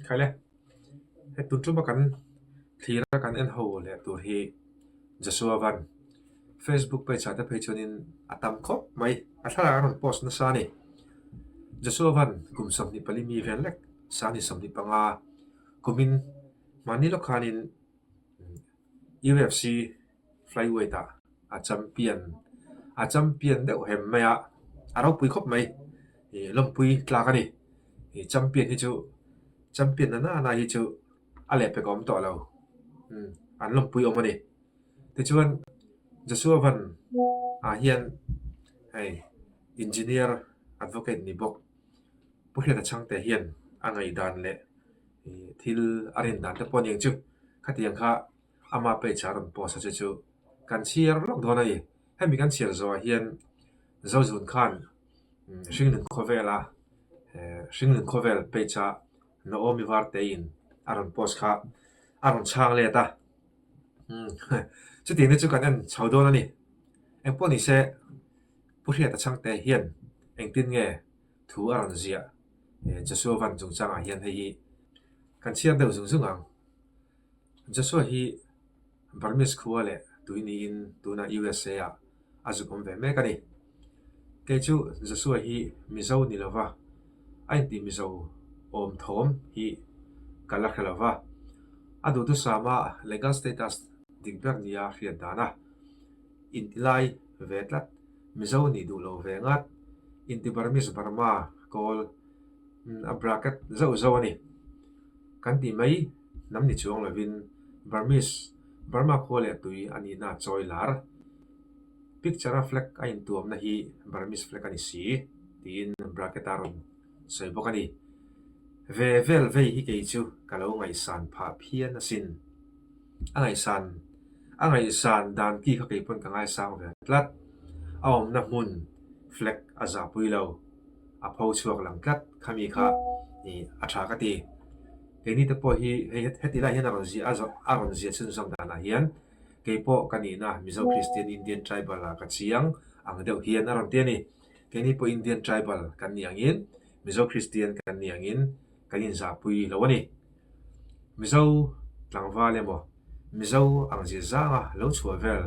Khaile he tun tuma kan thlir a kan enho leh tur hi Joshua Van Facebook page ah te phei chuanin a tam khawp mai a thlalak a rawn post nasa a ni Joshua Van kum sawmhni pali mi vel lek sanghnih sawmhni panga kumin mahni lawkhanin UFC Flyweight ah a champion a champion deuh hem mai a, a ropui khawp mai. I lawmpui tlak a ni. I champion hi chu champion na na na hi chu a leh pek awm tawh lo. Um an lawmpui awm a ni. Tichuan Joshua Van ah hian hei engineer advocate ni bawk Pu Hriata Chhangte hian a ngaihdan leh thil a rindan te pawh a ni ang chu khatiang kha Ama page ah a rawn post a che chu kan chhiar lawk dawn a ni. Hemi kan chhiar zawhah hian Zozun khan Hringlun khawvela Hringlun khawvel page ah Naomi Varteiin a rawn post kha a rawn chhang let a. Chutiang te chu kan en chho dawn a ni. Engpawh ni se Pu Hriata Chhangte hian engtin nge thu a rawn ziah Joshua Van chungchangah hian hei hi kan chhiar deuh zung zung ang. Joshua hi Burmese khua leh tui niin tunah usa ah a zuk awm ve mek a ni. Kei chu Joshua hi Mizo ni lova, a intih Mizo awm thawm hi ka la hre lova, a duhtu Sama legal status dik ber nia hriat dan a, inti lai ve tlat Mizo ni duh lo ve ngat, inti Burmese Burma kawl a bracket zauh zauh a ni kan tih mai. Hnam ni chuang lovin Burmese, Burma khua leh tui a nihna a chawi lar. Picture-a flag a intuamna hi Burmese flag a ni si, tiin bracket-a rawn sawi bawk a ni. Ve vel vei hi kei chu ka lo ngaihsan phah phian a sin. A ngaihsan a ngaihsan dan ti kha kei pawn ka ngaisang ve tlat. A awmna hmun flag a zahpui lo, a pho chhuak lang tlat khami kha a tha ka ti. Kei mite pawh hi hei heti lai hian a rawn zia a rawn zia chhin zawm dan ah hian kei pawh ka nih na Mizo Kristian Indian Tribal ah ka chiang ang deuh hian a rawn ti a ni. Kei ni pawh Indian Tribal kan nih ang in Mizo Kristian kan nih ang in kan in zah pui lo a ni. Mizo tlangval emaw Mizo ang zir zang a lo chhuah vel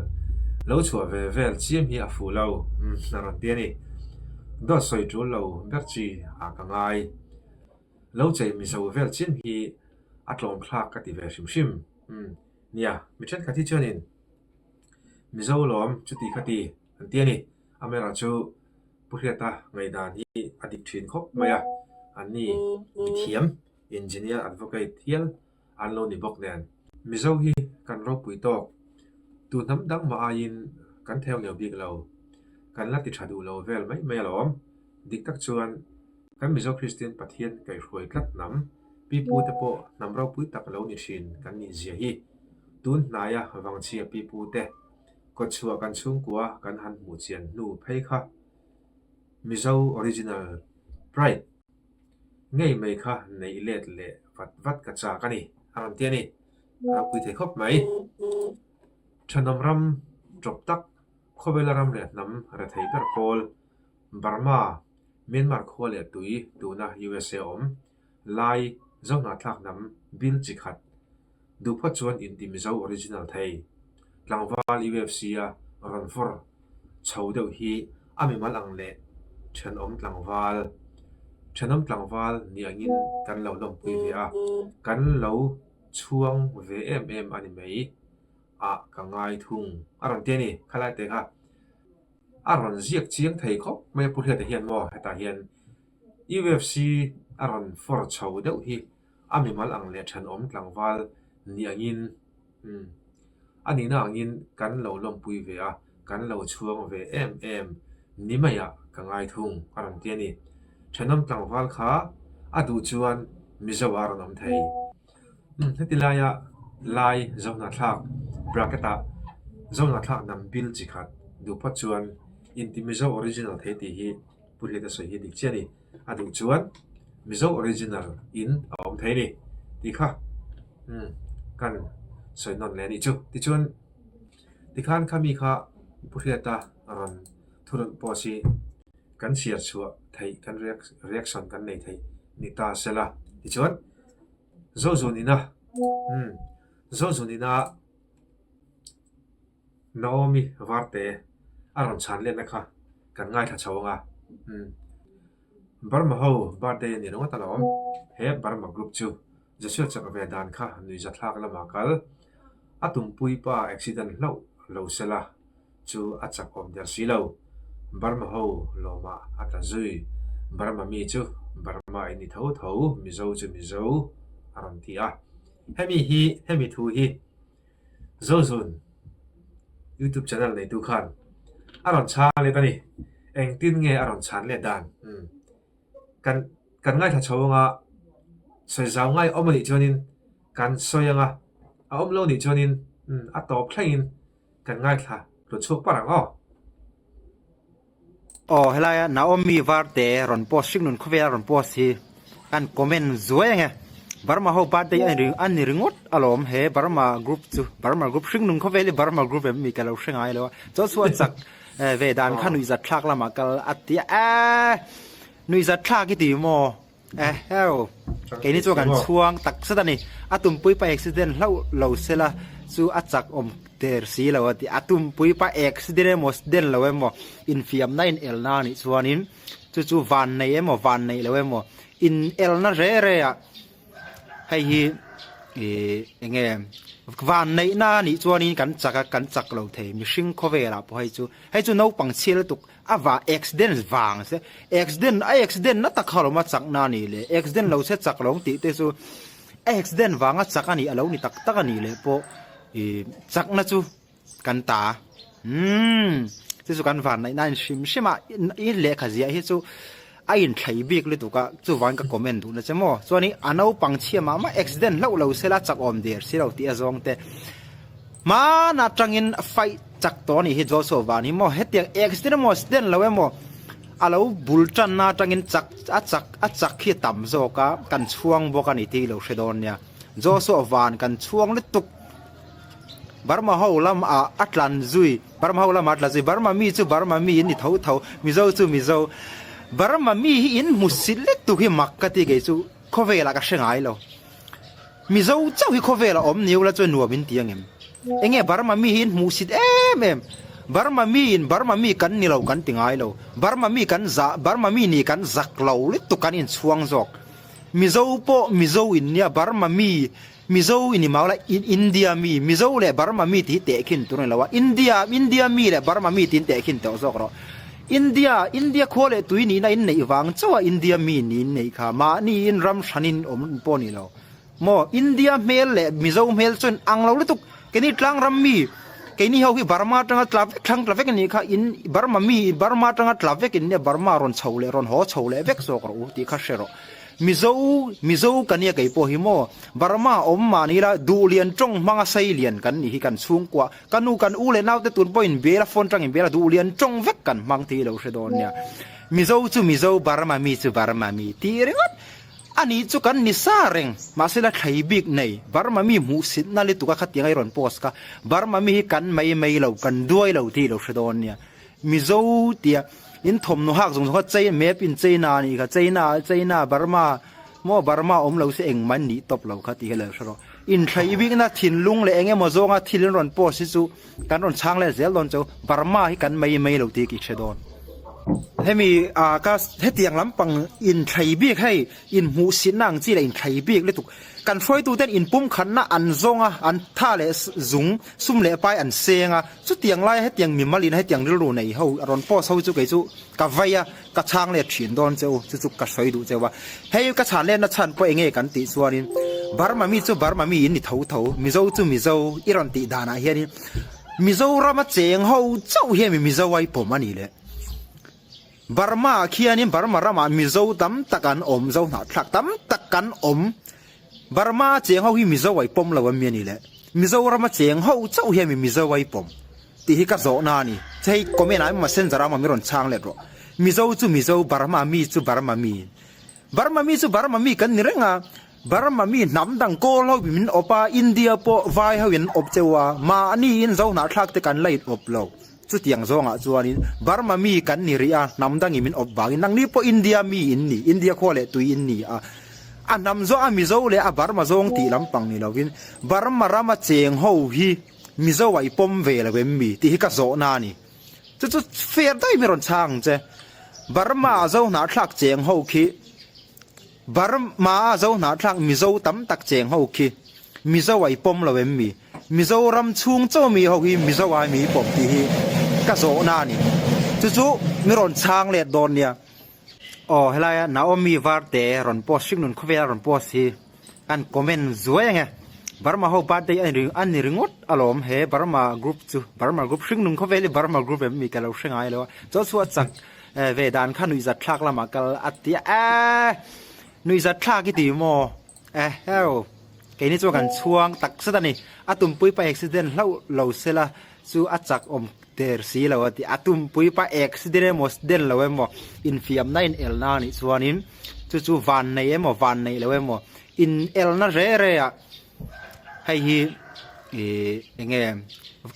lo chhuah ve vel chiam hi a fuh lo a rawn ti a ni. Dawt sawi tul lo ber chi ah ka ngai. Lo chei mizo vel chin hi a tlawmthlak a ti ve hrim hrim. Umm. Nia, mi thenkhat hi chuanin Mizo lawm chuti kha ti an ti a ni. A Mera chu Pu Hriata ngaihdan hi a dik thin khawp mai a. An ni mithiam, engineer, advocate hial. an lo ni bawk nen Mizo hi kan ropui tawk tu hnam dang mah aiin kan theu nio bik lo, kan la ti tha duh lo vel mai mai alawm. Dik tak chuan kan Mizo Kristian Pathian kaihhruai tlat hnam pipu te pawh hnam ropui tak lo ni hrin kan nih zia hi. Tun hnaia vangchhia pipu te kawtchhuah kan chhungkua kan han hmuh chian hnu phei kha Mizo Original Pride. Ngei mai kha neih let leh vat vat ka chak a ni, a rawn ti a ni. A rawn pui thei khawp mai. Thahnam ram tawp tak, khawvela ram leh hnam re thei ber pawl, Burma, Myanmar khua leh tui tuna usa awm, Lai, Zawnghnathlak hnam bil chi khat, Duhpha chuan inti mizo original thei. Tlangval UFC a rawn vawr chho deuh hi a mimal ang leh thenawm tlangval. Thenawm tlangval ni angin kan lo lawmpui ve a, kan lo chhuang ve em em a ni mai. A ka ngai thung a rawn ti a ni kha lai te kha. A rawn ziak chiang thei khawp mai a pu hliata hian maw hetah hian UFC a rawn vawr chho deuh hi. A mimal ang leh thanawm tlangval ni angin umm a nihna angin kan lo lawmpui ve a, kan lo chhuang ve em em ni mai a ka ngai thung a rawn ti a ni. Thanawm tlangval kha a duh chuan Mizoah a rawn awm thei. Umm heti laia Lai Zohnathlak bracket ah Zohnathlak nam bil chi khat duh phawt chuan inti Mizo original thei tih hi Pu Hriata sawi hi a dik chiah a ni. a duh chuan Mizo original in a awm thei ni tih kha umm kan sawi nawn leh anih chu. Tichuan tikhan kha mi kha Pu Hriata rawn thurun post hi kan share chhuah theih kan reaction kan nei theih ni ta sela tichuan Zozunina umm Zozunina Naomi varte a rawn chhan letna kha kan ngaithla chho anga umm Burma ho birthday a ni ringawt alawm he Burma group chu Joshua chak ve dan kha nui za thlak lama kal a tumpui pa accident hlauh lo sela chu a chak awm der si lo Burma ho lawmah a ta zui Burma mi chu Burma in ni tho tho Mizo chu Mizo a rawn ti a hemi hi hemi thu hi. Zawlzun YouTube channel neitu khan a rawn chha let a ni. Engtin nge a rawn chhan let dan? Hmm. Kan kan ngaithla chho anga sawi zau ngai awm a nih chuanin kan sawi anga a awm lo nih chuanin a tawp thlengin kan ngaithla hlu chhuak par ang aw. Aw helaia Naomi var te rawn post hrik nun khawvel a rawn post hi kan comment zuai ang e Burma ho birthday a ni a ni ringawt alawm he Burma group chu Burma group hring nun khawvel hi Burma group em mi ka lo hre ngai lo a chaw chu a chak ve dan kha nuih zat thlak lamah kal a ti a nuih zat thlak i ti maw. Eheu, keini chu kan chhuang tak zet a ni. A tumpui pa accident hlauh lo se la chu a chak awm ter si lo a ti. A tumpui pa accident emaw accident lo emaw infiamna inelna anih chuanin chu chu vannei emaw vannei lo emaw inelna hre hre a hei hi ih eng nge vanneihna anih chuanin kan chak a kan chak lo thei mihring khawvelah pawh hei chu hei chu naupang chhial lutuk A va accident vang se accident a accident na tak kha lo ma chak na ni le accident lo se chak lo tih te chu a accident vang a chak a nih a lo ni tak tak a nih leh pawh i chak na chu kan ta umm chu chu kan vanlaih na a inhrim hrim a i lehkha ziah hi chu A inthlai bik lutuk a chuvain ka comment duhna che maw? Chuan i a naupang chhia mah mah accident hlauh lo sela chakawm der si lo tih a zawng te. Hman atangin fight chak tawh a nih hi Joshua van hi maw? Hetiang accident emaw accident lo emaw a lo bul tanna atangin chak a chak a chak hi a tam zawk a, kan chhuang bawk a ni tih i lo hre dawn nia. Joshua van kan chhuang lutuk. Burma ho lam ah a tlan zui Burma ho lam ah a tla zui Burma mi chu Burma mi in i tho tho Mizo chu Mizo Burma mi hi in hmu silik tuk hi mak ka ti kei chu khawvel ah ka hre ngai lo Mizo chauh hi khawvel ah awm nio la chuan nuam in ti ang em enge Burma mi hi in hmu sit em em Burma mi in Burma mi kan ni lo kan ti ngai lo Burma mi kan za Burma mi nih kan zak lo lutuk kan in chhuang zawk Mizo pawh Mizo in nia Burma mi Mizo i ni mau la, India mi, Mizo leh Burma mi tih hi teh khin tur a ni lo a, India, India mi leh Burma mi tiin teh khin tawh zawk rawh. India, India khua leh tui nihna in neih vang chauha India mi niin neih kha mahniin ram hranin awm pawh a ni lo. Maw India hmel leh Mizo hmel chuan ang lo lutuk, keini tlangram mi, keini ho hi Burma atanga tla vek thlang tla vek a nih kha, in Burma mi, Burma atanga tla vek in nge Burma rawn chho leh rawn haw chho leh vek zawk rawh u tih kha hre rawh. Mizo, Mizo ka nia kei pawh hi maw? Burma awm mahni ila duh lian tawng hmanga sei lian kan nih hi kan chhungkuah, ka nu kan u leh naute tun pawh in bela phone tang in bela duh lian tawng vek kan hmang tih i lo hre dawn nia. Mizo chu Mizo, Burma mi chu Burma mi tih ringawt a nih chu kan ni sa reng. Mahse la thlai bik nei, Burma mi hmuhsitna lutuk a khatianga i rawn post kha, Burma mi hi kan mai mai lo, kan duai lo tih i lo hre dawn nia. Mizo tia in thawmhnaw hak zawng zawng kha chei map in China a nih kha China China Burma maw Burma awm lo se engmah an nih tawp lo kha tih ka lo hre rawh inthlai i bikna thinlung leh eng emaw zawnga thil in rawn post hi chu kan rawn chhang let zel dawn chu Burma hi kan mai mai lo tih ka i hre dawn hemi a ka hetiang lampang inthlai bik hei inhmuhsinna ang chi leh inthlai bik lutuk kan hruaituten inpumkhatna an zawnga an tha leh zung sum leh pai an senga Chutiang laia hetiang mimal ina hetiang rilru nei ho a rawn post ho chu kei chu ka vai a, ka chhang let thin dawn che u, chu chu ka hrawi duh che u a. Hei ka chhan letna chhan pawh enge kan tih chuanin Burma mi chu Burma mi in ni tho tho, Mizo chu Mizo i rawn tih danah hianin Mizorama cheng ho chauh hi a mi Mizoai pawm a ni le. Burma-ah khianin Burma ramah Mizo tam tak an awm, Zo hnahthlak tam tak kan awm. Burma cheng ho hi Mizoai pawm lo ami a ni le, Mizoram a cheng ho chauh hi ami Mizoai pawm tih hi ka zawhna a ni. Che hei comment-ah emaw Messenger-ah emaw mi rawn chhang let rawh. Mizo chu Mizo, Burma mi chu Burma mi. Burma mi chu Burma mi kan ni reng a, Burma mi hnam dang kawl ho bim in awp a, India pawh vai ho in an awp cheu a, mah ni in zo hnah thlak te kan la in awp lo. Chutiang zawng ah chuan in Burma mi kan ni rih a, hnam dang in min awp vang in, nang ni pawh India mi in ni, India khua leh tui in ni a, a hnam zawng a Mizo leh a Burma zawng tih lam pang ni lo in, Burma ram a cheng ho hi Mizo ah i pawm ve lo em mi? Tih hi ka zawh na a ni. Chu chu fer daih mai rawn chhang ang che. Burma zo hna thlak cheng ho khi Burma a zo hna thlak Mizo tam tak cheng ho khi Mizo ai pawm lo em mi? Mizoram chhung chaw mi ho hi Mizo ai mi pawm tih hi ka zawhna a ni. Chu chu mi rawn chhang let dawn nia. Aw helaia Naomi var te rawn post hrik nun khawvel a rawn post hi kan comment zuai ange Burma ho birthday a ni a ni ringawt alawm he Burma group chu Burma group hring nun khawvel hi Burma group em mi ka lo hre ngai lo a chu chu a chak ve dan kha nuihzat thlak lamah kal a tia a nuihzat thlak i ti maw Eheu, kei ni chu kan chhuang tak zet a ni. A tumpui pa accident hlauh lo se la chu a chak awm ter si lo a ti a. A tumpui pa accident emaw accident lo emaw infiamna inelna a nih chuanin chu chu van nei emaw van neih loh emaw inelna hle hle a hei hi ih eng nge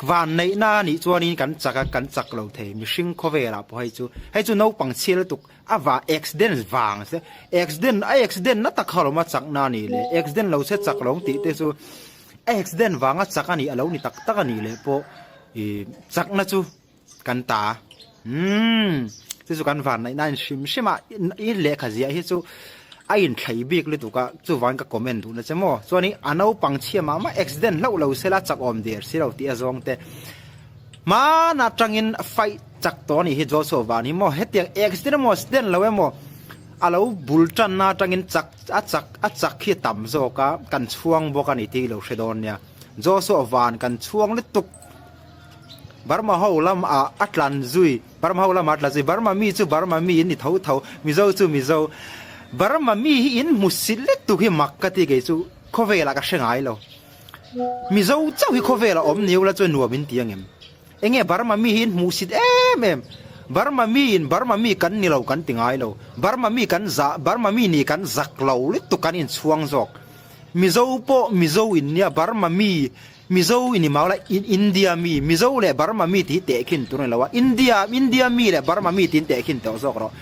van neihna a nih chuanin kan chak a kan chak lo thei mihring khawvelah pawh hei chu hei chu naupang chhia lutuk-- A va accident vang se accident a accident na tak halawm a chakna a nih leh accident lo se chak lawng tih te chu a accident vang a chak a nih a lo ni tak tak a nih leh pawh ih chakna chu kan ta a umm chu chu kan vanneihna a inhrim hrim a i lehkha ziah hi chu a inthlai bik lutuk a chuvangin ka comment duhna che maw chuanin a naupang chhia mah mah accident hlauh lo sela chak awm der si lo tih a zawng te hman atangin fight Chak tawh a nih hi Joshua van hi maw hetiang accident emaw accident lo emaw a lo bul tanna atangin chak a chak a chak hi a tam zawk a kan chhuang bawk a ni tih i lo hre dawn nia Joshua van kan chhuang lutuk Burma ho lam a a tlan zui Burma ho lam a tlan zui Burma mi chu Burma mi in ni tho tho Mizo chu Mizo Burma mi hi in hmu silh lutuk hi mak ka ti kei chu khawvel ah ka hre ngai lo Mizo chauh hi khawvel ah awm ni aw la chuan nuam in ti ang em Enge Burma mi hi in hmuhsit em em. Burma mi in Burma mi kan ni lo kan ti ngai lo. Burma mi kan za Burma mi nih kan zak lo lutuk kan in chhuang zawk. Mizo pawh Mizo in nia Burma mi Mizo i ni mau la in India mi Mizo leh Burma mi tih hi teh khin tur a ni lo a. India India mi leh Burma mi tiin teh khin tawh zawk rawh.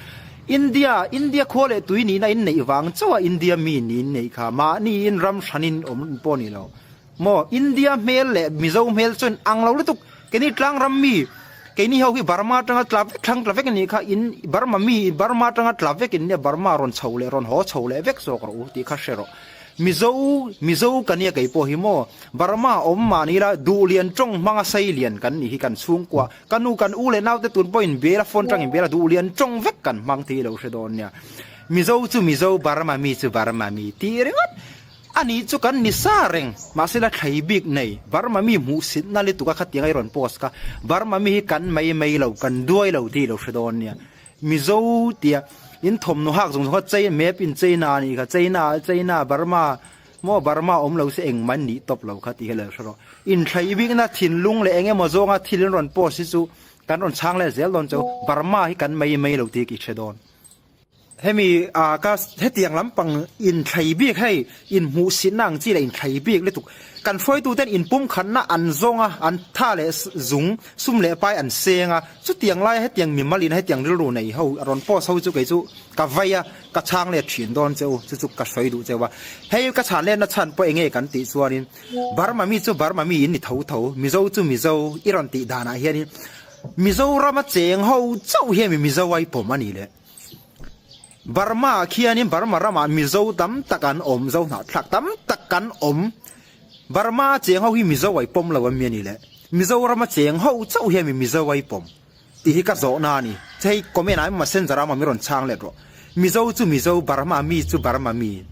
India India khua leh tui nihna in neih vang chauha India mi niin nei kha mahni in ram hran in awm pawh a ni lo. Maw India hmel leh Mizo hmel chuan ang lo lutuk keini tlangram mi keini ho hi Burma atanga tla vek thlang tla vek anih kha in Burma mi Burma atanga tla vek in nge Burma rawn chho leh rawn haw chho leh vek zawk rawh u tih kha hre rawh Mizo Mizo ka nia kei pawh hi maw Burma awm mah ni la duh lian tawng hmanga sai lian kan nih hi kan chhungkua ka nu kan u leh nau te tun pawh in bel a phone tang in bel a duh lian tawng vek kan hmang tih i lo hre dawn nia Mizo chu Mizo Burma mi chu Burma mi tih ringawt A nih chu kan ni sa reng. Mahse la thlai bik nei, Burma mi hmuhsitna li tuka khatianga i rawn post ka. Burma mi hi kan mai mai lo, kan duai lo tih i lo hre dawn nia. Mizo tia in thawmhnaw hak zawng zawng kha China map in China a nih kha, China China Burma maw Burma a awm lo se engmah in nih tawp lo kha tih hi la hre rawh. Inthlai bikna thinlung leh eng emaw zawnga thil in rawn post hi chu kan rawn chhang let zel dawn cho. Burma hi kan mai mai lo tih hi ka i hre dawn. Hemi ka hetiang lampang inthlei bik hei inhmuhsinna ang chi la inthlei bik lutuk. Kan hruaitu ten inpumkhatna an zawng a, an tha leh zung sum leh pai an seng a, chutiang laia hetiang mimalina hetiang rilru nei ho a rawn post ho chu kei chu ka vai a, ka chhang let thin dawn che u, chu chu ka hruai duh che va. Hei ka chhan letna chhan pawh eng nge kan tih chuanin Burma mi chu Burma miin ni tho tho, Mizo chu Mizo i rawn tih danah hianin Mizorama cheng ho chauh hian mi Mizo ai pawm a nih leh. Burma ah khianin Burma ramah Mizo tam tak an awm, Zo hnahthlak tam tak kan awm. Burma cheng ho hi Mizo ai pawm lo ami a nih leh. Mizorama cheng ho chauh hian mi Mizo ai pawm. Tih hi ka zawhna a ni. Che hei comment ah emaw messenger ah emaw min rawn chhang let rawh. Mizo chu Mizo, Burma mi chu Burma mi.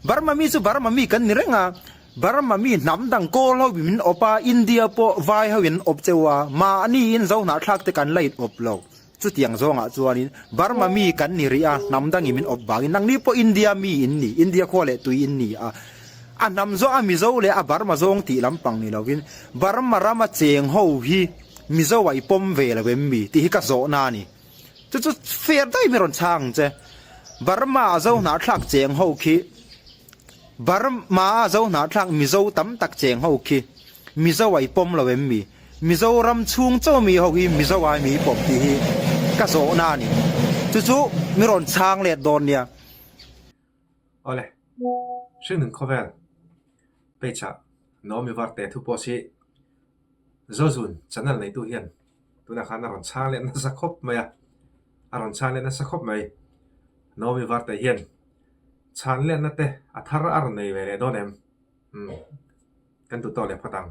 Burma mi chu Burma mi kan ni reng a. Burma mi hnam dang kawl ho bim in awpa India pawh vai ho in an awp cheu a, mah a ni in zohnah thlak te kan la in awp lo. Chutiang zawng ah chuan in Burma mi kan ni rih a, hnam dang in min awp vang in nang ni pawh India mi in ni, India khua leh tui in ni a, a hnam zawh a Mizo leh a Burma zawng tih lam pang ni lo in Burma ram a cheng ho hi Mizo ai pawm ve lo em mi tih hi ka zawh na a ni. Chu chu fair daih mi rawn chang che. Burma a zohnah thlak cheng ho khi Burma-a zo hnahthlak Mizo tam tak cheng ho khi Mizo ai pawm lo em mi? Mizoram chhung chaw mi ho hi Mizo ai mi pawm tih hi ka zawhna a ni. Chu chu min rawn chhang let dawn nia. Awle. Hringnun khawvel page-ah Naomi Varte thu post hi Zozun channel neitu hian Tunah khan a rawn chhang leh nasa khawp mai a, a rawn chhang leh nasa khawp mai. Naomi Vartei hian chhang lehna te a thar a rawn nei ve leh dawn em? Umm, kan duh tawh leh phawt ang.